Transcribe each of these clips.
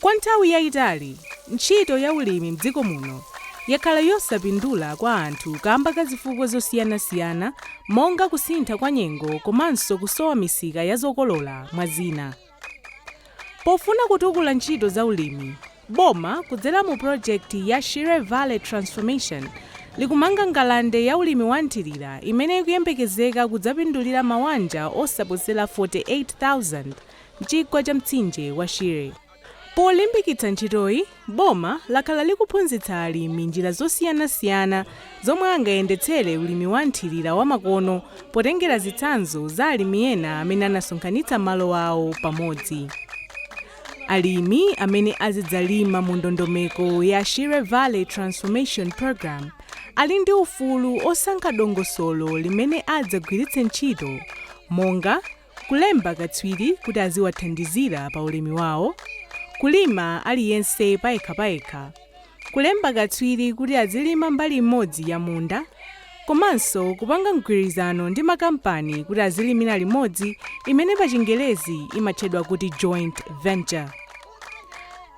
Kwa nthawi yaitali, ntchito ya ulimi m'dziko muno yakhala yosapindula kwa anthu kamba ka zifukwa zosiyanasiyana monga kusintha kwa nyengo komanso kusowa misika ya zokolola, mwa zina. Pofuna kutukula ntchito za ulimi, boma kudzera mu pulojekiti ya Shire Valley Transformation likumanga ngalande ya ulimi wa nthirira imene ikuyembekezeka kudzapindulira mawanja osaposera 48,000 m'chigwa cha mtsinje wa Shire. Polimbikitsa ntchitoyi, boma lakhala likuphunzitsa alimi njira zosiyanasiyana zomwe angayendetsere ulimi wa nthirira wamakono potengera zitsanzo za alimi ena amene anasonkhanitsa malo awo pamodzi. Alimi amene azidzalima mu ndondomeko ya Shire Valley Transformation Programme ali ndi ufulu osankha dongosolo limene adzagwiritse ntchito monga Kulemba akatswiri kuti aziwathandizira pa ulimi wao, Kulima aliyense payekha payekha, Kulemba katswiri kuti azilima mbali imodzi ya munda, komanso kupanga mgwirizano ndi makampani kuti azilimira limodzi imene pa chingerezi imatchedwa kuti joint venture.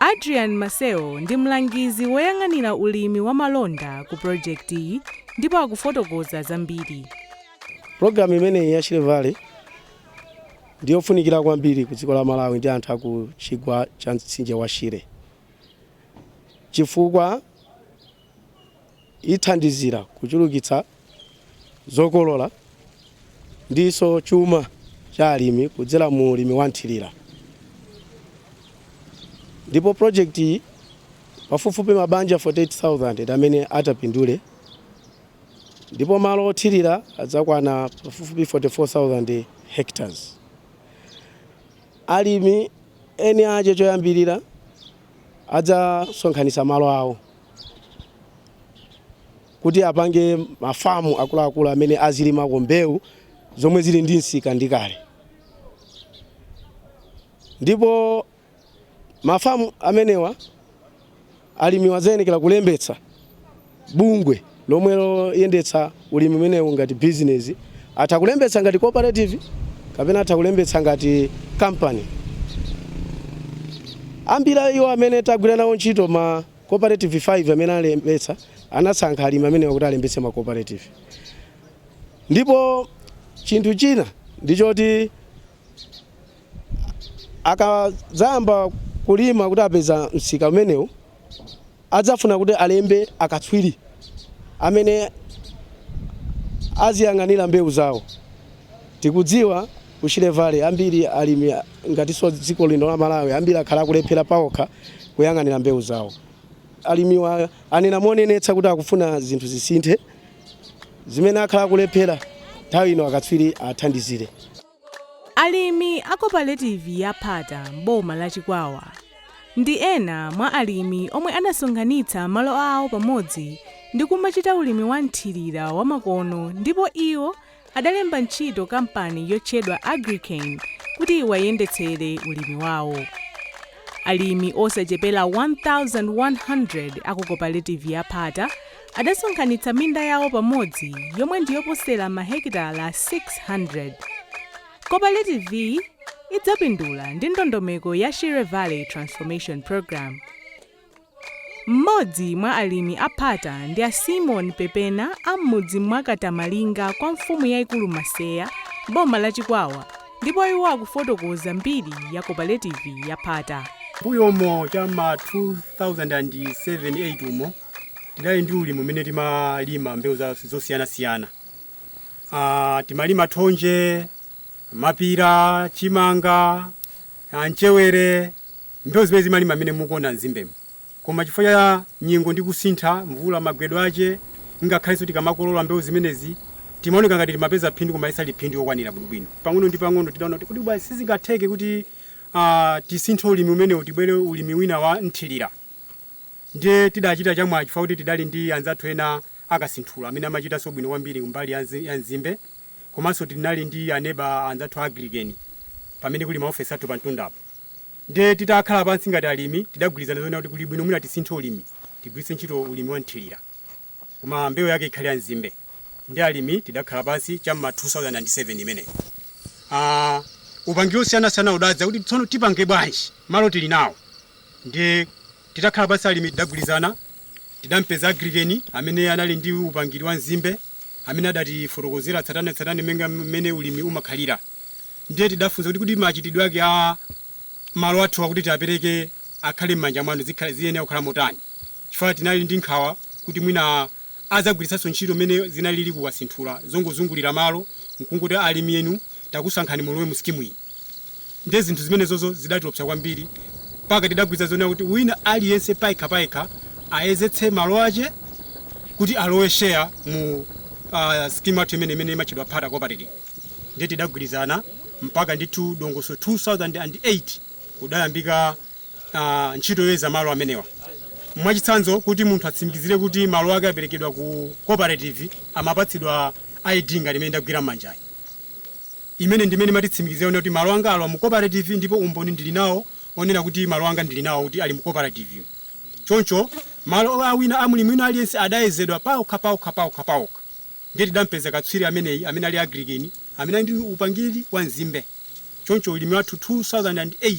Adrian Maseo ndi mlangizi woyang'anira ulimi wa malonda ku pulojekitiyi ndipo akufotokoza zambiri. Pulogalamu imeneyi ya Shire Valley ndi yofunikira kwambiri ku dziko la Malawi ndi anthu aku chigwa cha mtsinje wa Shire chifukwa ithandizira kuchulukitsa zokolola ndinso chuma cha alimi kudzera mu ulimi wa nthirira ndipo pulojekiti iyi pafupifupi mabanja 48000 ndi amene atapindule ndipo malo othirira adzakwana pafupifupi 44,000 hectares. Alimi eni ache choyambirira adzasonkhanitsa malo awo kuti apange mafamu akuluakulu amene azilimako mbewu zomwe zili ndi msika ndi kale ndipo Mafamu amenewa alimiwa adzayenekera kulembetsa bungwe lomwe loyendetsa ulimi umenewu ngati bizinezi, atha kulembetsa ngati cooperative kapena atha kulembetsa ngati kampani. Ambiri a iwo amene tagwira nawo ntchito ma cooperative 5 amene alembetsa anasankha alimi amenewa kuti alembetse ma cooperative. Ndipo chinthu china ndi choti akadzayamba kulima kuti apeza msika umenewu adzafuna kuti alembe akatswiri amene aziyang'anira mbewu zawo tikudziwa ku Shire Valley ambiri alimi ngakhalenso dziko lino la Malawi ambiri akhala akulephera paokha kuyang'anira mbewu zawo alimiwa anena monenetsa kuti akufuna zinthu zisinthe zimene akhala akulephera nthawi ino akatswiri athandizire Alimi a koparetivi ya Phata m'boma la Chikwawa ndi ena mwa alimi omwe anasonkhanitsa malo awo pamodzi ndi kumachita ulimi wa mthirira wa makono ndipo iwo adalemba ntchito kampani yotchedwa Agri-Cane kuti iwayendetsere ulimi wawo. Alimi osachepera 1,100 a ku koparetivi ya Phata Adasonkhanitsa minda yawo pamodzi yomwe ndi yoposera mahekitala 600. Kopaletiviyi idzapindula ndi ndondomeko ya Shire Valley Transformation Program. Mmodzi mwa alimi a Phata ndi a Simon Pepena a m'mudzi mwa Katamalinga kwa mfumu yaikulu Maseya m'boma la Chikwawa ndipo iwo akufotokoza mbiri ya kopaletivi ya Phata. M'mbuyomo cha m'ma 2007, 8 umo, Tidali ndi ulimi umene timalima mbewu za- zosiyanasiyana. Ah, timalima thonje, mapira, chimanga, ah, mchewere, mbewu zimene zimalima mmene mukuona mzimbemo. Koma chifukwa cha nyengo ndi kusintha, mvula magwedwe ache, ngakhalenso tikamakolola mbewu zimenezi, timaoneka ngati timapeza phindu koma silinali phindu lokwanira bwinobwino. Pang'ono ndi pang'ono tidaona kuti kodi bwa sizingatheke kuti ah, tisinthe ulimi umenewu tibwere ulimi wina wa mthirira. Ndiye tidachita chamwayi chifukwa kuti tidali ndi anzathu ena a Kasinthula amene amachitanso bwino kwambiri kumbali ya ya nzimbe komanso tinali ndi aneba anzathu a Agri-Cane pamene kuli maofesi athu pamtundapo. Ndiye titakhala pansi ngati alimi tidagwirizana zonena kuti kuli bwino mwina tisinthe ulimi tigwiritse ntchito ulimi wa mthirira. koma mbewu yake ikhale ya nzimbe ndiye alimi tidakhala pansi cha mma 2007 imeneyo Ah, upangiri osiyanasiyana udadza kuti tsono tipange bwanji malo tili nawo ndiye titakhala pansi alimi tidagwirizana tidampeza Agri-Cane amene anali ndi upangiri wa nzimbe amene adatifotokozera tsatanetsatane monga mmene ulimi umakhalira ndiye tidafunsa kuti kuti machitidwe ake a malo athu akuti tiapereke akhale m'manja mwanu zikhale- ziyenera kukhala motani chifukwa tinali ndi nkhawa kuti mwina adzagwiritsanso ntchito mmene zinalili ku Kasinthula zongozungulira malo n'kungouza alimi inu takusankhani mulowe mu sikimu iyi. Ndiye zinthu zimenezozo zidatiopsa kwambiri mpaka tidagwirizana zonena kuti wina aliyense payekhapayekha ayezetse malo ache kuti alowe share mu uh, sikimu yathu imene imene imatchedwa Phata Cooperative. Ndiye tidagwirizana mpaka ndithu ndondomeko 2008 kudayambika uh, ntchito yoyeza malo amenewa mwachitsanzo kuti munthu atsimikizire kuti malo ake aperekedwa ku cooperative amapatsidwa id ngati imene ndagwira m'manjayi imene ndimene imatitsimikizira kuti malo anga alowa mu cooperative ndipo umboni ndili nawo onena kuti malo anga ndili nawo kuti ali mu cooperative choncho malo awina a mlimi wina aliyense adayezedwa paokha paokha paokha paokha ndiye tidapeza katswiri ameneyi amene ali agrikeni amene ali ndi upangiri wa nzimbe choncho ulimi wathu 2008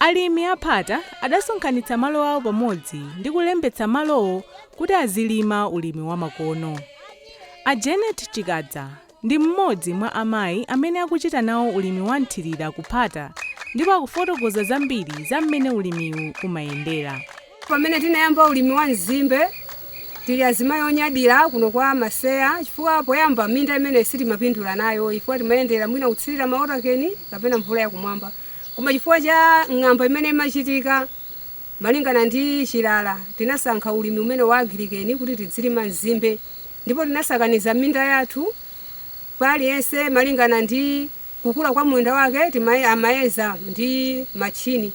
Alimi a phata adasonkhanitsa malo awo pamodzi ndi kulembetsa malowo kuti azilima ulimi wamakono. A Janet Chikadza ndi mmodzi mwa amayi amene akuchita nawo ulimi wa mthirira ku phata ndipo akufotokoza zambiri za mmene ulimiwu umayendera. Pamene tinayamba ulimi wa nzimbe, tili azimayi onyadira kuno kwa Maseya chifukwa poyamba minda imeneyi sitimapindula nayo chifukwa timadalira mwina kutsirira mawotakeni kapena mvula yakumwamba. Koma chifukwa cha ng'amba imene imachitika malingana ndi chilala, tinasankha ulimi umenewu wa agilikeni kuti tidzilima nzimbe ndipo tinasakaniza minda yathu pa aliyense malingana ndi kukula kwa munda wake timaye, amayeza ndi machini.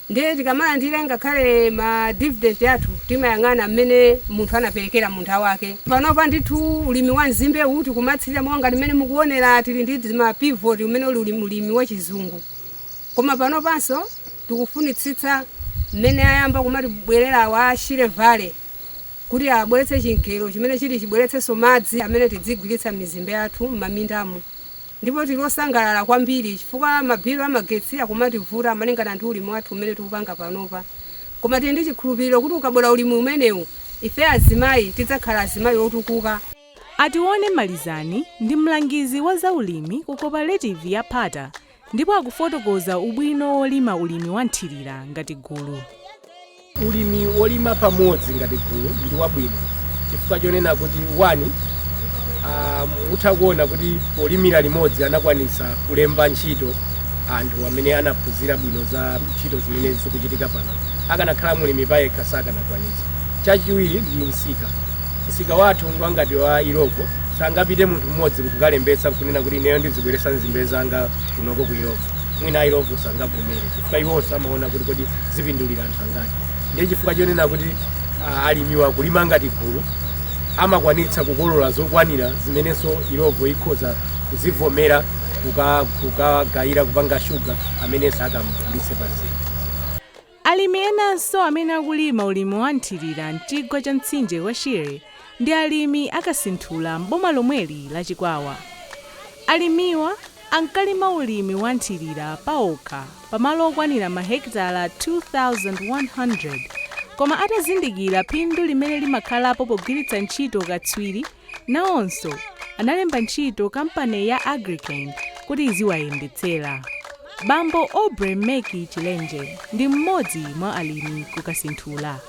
Ndiye tikamalandira ngakhale ma dividend athu timayang'ana mmene munthu anaperekera munda wake. Panopa ndithu ulimi wa mzimbe uwu tikumathirira monga ngati mmene mukuonera tili ndi zima pivot umene uli ulimi wa chizungu. Koma panopanso tikufunitsitsa mmene ayamba kumatibwerera awa a Shire Valley kuti abweretse chingalande chimene chiti chibweretsenso madzi amene tidzigwiritsa m'mizimbe yathu m'mamindamu. Ndipo tili osangalala kwambiri chifukwa mabilu a magetsi akumativuta malingana ndi ulimi wathu umene tikupanga panopa. Koma tili ndi chikhulupiriro kuti ukabwera ulimi umenewu, ife azimayi tidzakhala azimayi otukuka. A Tione Malizani ndi mlangizi wa zaulimi ku koparetivi ya Phata ndipo akufotokoza ubwino wolima ulimi wa mthirira ngati gulu. Ulimi wolima pamodzi ngati gulu ndi wabwino chifukwa chonena kuti wani, a, mutha kuona kuti polimira limodzi anakwanitsa kulemba ntchito anthu amene anaphunzira bwino za ntchito zimene zikuchitika pano. Akanakhala mlimi payekha sakanakwanitsa. Chachiwiri ndi msika. Msika wathu ngwa ngati wa Illovo, sangapite munthu mmodzi n'kukalembetsa n'kunena kuti ineyo ndizibweretsa nzimbe zanga kunoko ku Illovo. Mwina a Illovo sangavomere. pa iwonso amaona kuti kodi zipindulira anthu angati ndiye chifukwa chonena kuti ah, alimiwa akulima ngati gulu amakwanitsa kukolola zokwanira zimenenso Illovo ikhoza kuzivomera kuka- kukagayira kupanga shuga amenenso akamugulitse pazii alimi enanso amene akulima ulimi wa nthirira mchigwa cha mtsinje wa shire ndi alimi a Kasinthula m'boma lomweli la Chikwawa. Alimiwa ankalima ulimi wa nthirira paokha pamalo okwanira mahekitala 2,100 koma atazindikira phindu limene limakhalapo pogwiritsa ntchito ukatswiri, nawonso analemba ntchito kampani ya Agricane kuti iziwayendetsera. Bambo Aubrey Meki Chilenje ndi mmodzi mwa alimi ku Kasinthula.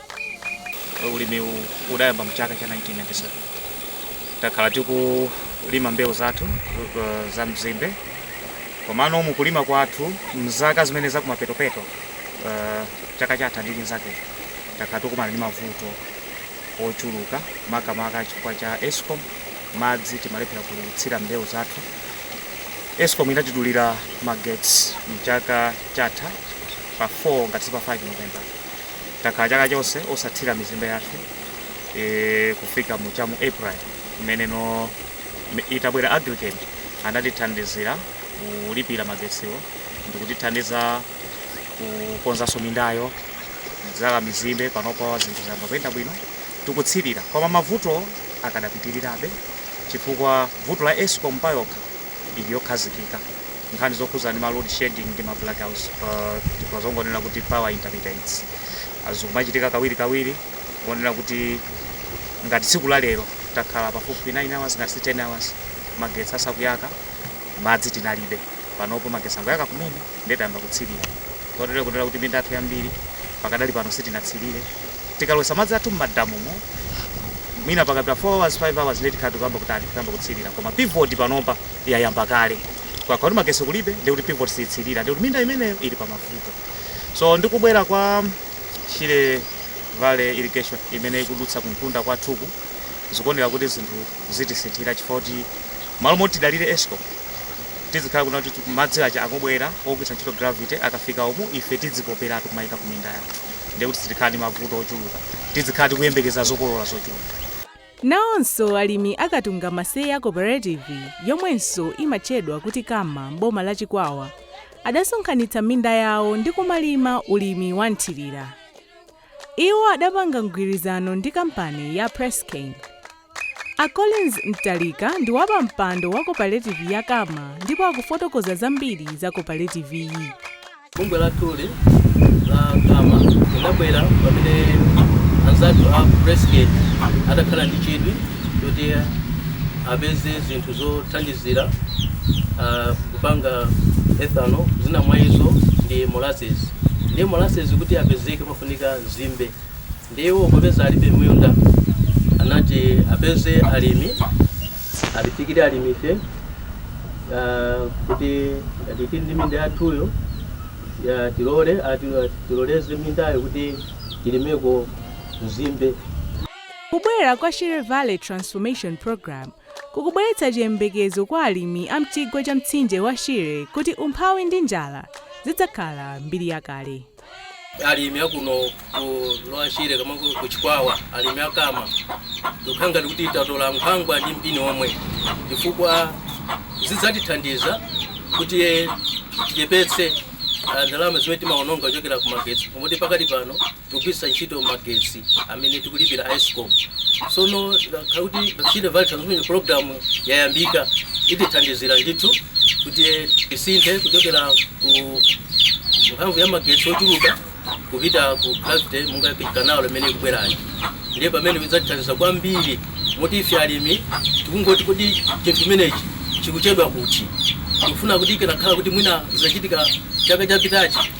Ulimiwu udayamba mchaka cha 1997 takhala tikulima mbewu zathu uh, za mzimbe komano mukulima kwathu mzaka zimene zakumapetopeto uh, chaka chatha ndi chinzake takhala tikumana ndi mavuto ochuluka makamaka chifukwa cha escom madzi timalephera kutsira mbewu zathu escom inatidulira magetsi mchaka chatha pa 4 ngati si pa 5 november takhala chaka chonse osatsira mizimbe yathu e, kufika mu cha mu April imeneno itabwera Agricane anatithandizira kulipira magetsiwo ndikutithandiza kukonzanso mindayo kudzala mizimbe panopo zinthu zayamba kuyenda bwino tikutsirira koma mavuto akadapitirirabe chifukwa vuto la escom payokha ili yokhazikika nkhani zokhudzana ndi ma load shedding ndi ma blackouts pa tikhoza kungonena kuti power intermittents Ah, zikumachitika kawiri kawiri kotero kuti ngati tsiku la lero takhala pafupifupi 9 hours ngati si 10 hours magetsi asakuyaka madzi tinalibe panopo magetsi angoyaka kumene ndiye tayamba kutsilira kotero kutero kuti minda yathu yambiri pakadali pano sitinatsilire tikalowesa madzi athu mmadamumo mwina pakapita 4 hours 5 hours ndiye tikhala tikuyamba kutani kuyamba kutsilira koma pivot panopa yayamba kale koma kuti magesi kulibe ndiye kuti pivot siyitsilira ndiye kuti minda imeneyo ili pa mavuto so ndikubwera kwa Shire Valley irrigation imene ikudutsa kumtunda kwathuku zikuoneka kuti zinthu zitisinthira chifukwa choti malo moti tidalire escom tizikhala kunena kuti madzi aja akubwera ogwiritsa ntchito gravity akafika umu ife tidzipoperatu kumayika ku minda yathu ndiye kuti sitikhala ndi mavuto ochuluka tizikhala tikuyembekeza zokolola zochuluka nawonso alimi a Katunga Maseya cooperative yomwenso imatchedwa kuti KAMA m'boma la chikwawa adasonkhanitsa minda yawo ndi kumalima ulimi wa nthirira Iwo adapanga mgwirizano ndi kampani ya Presscane. A Collins Mtalika ndi wapampando wa koparetivi ya Kama ndipo akufotokoza zambiri za koparetiviyi. Bungwe lathuli la Kama lidabwera pamene anzathu a Presscane adakhala ndi chidwi choti apeze zinthu zothandizira kupanga ethanol zina mwa izo ndi molasses ndiye molasses kuti apezeke pafunika nzimbe ndiye iwo popeza alibe minda anati apeze alimi atifikire alimife ah, kuti ngati tili ndi minda yathuyo tilole ati- tiloleze mindayo kuti tilimeko nzimbe Kubwera kwa Shire Valley Transformation Program kukubweretsa chiyembekezo kwa alimi a m'chigwa cha mtsinje wa Shire kuti umphawi ndi njala zidzakhala mbiri yakale. alimi akuno ku lower shire kama ku ku chikwawa alimi akama tikukhala ngati kuti tatola nkhwangwa ndi mpini omwe chifukwa zidzatithandiza kuti tichepetse ah, ndalama zimene timaononga kuchokera ku magetsi pomwe pakadali pano kugwiritsa ntchito magetsi amene tikulipira a escom sono ikakhala kuti shire valley transformation program yayambika itithandizira ndithu kuti tisinthe kuchokera ku mphamvu ya magetsi ochuluka kupita ku gravity monga kanalo imene ikubwerayo ndiye pamene idzatithandiza kwambiri moti ife alimi tikungoti kuti chinthu chimenechi chikuchedwa kuti tikufuna kuti ikanakhala kuti mwina zinachitika chaka chapitachi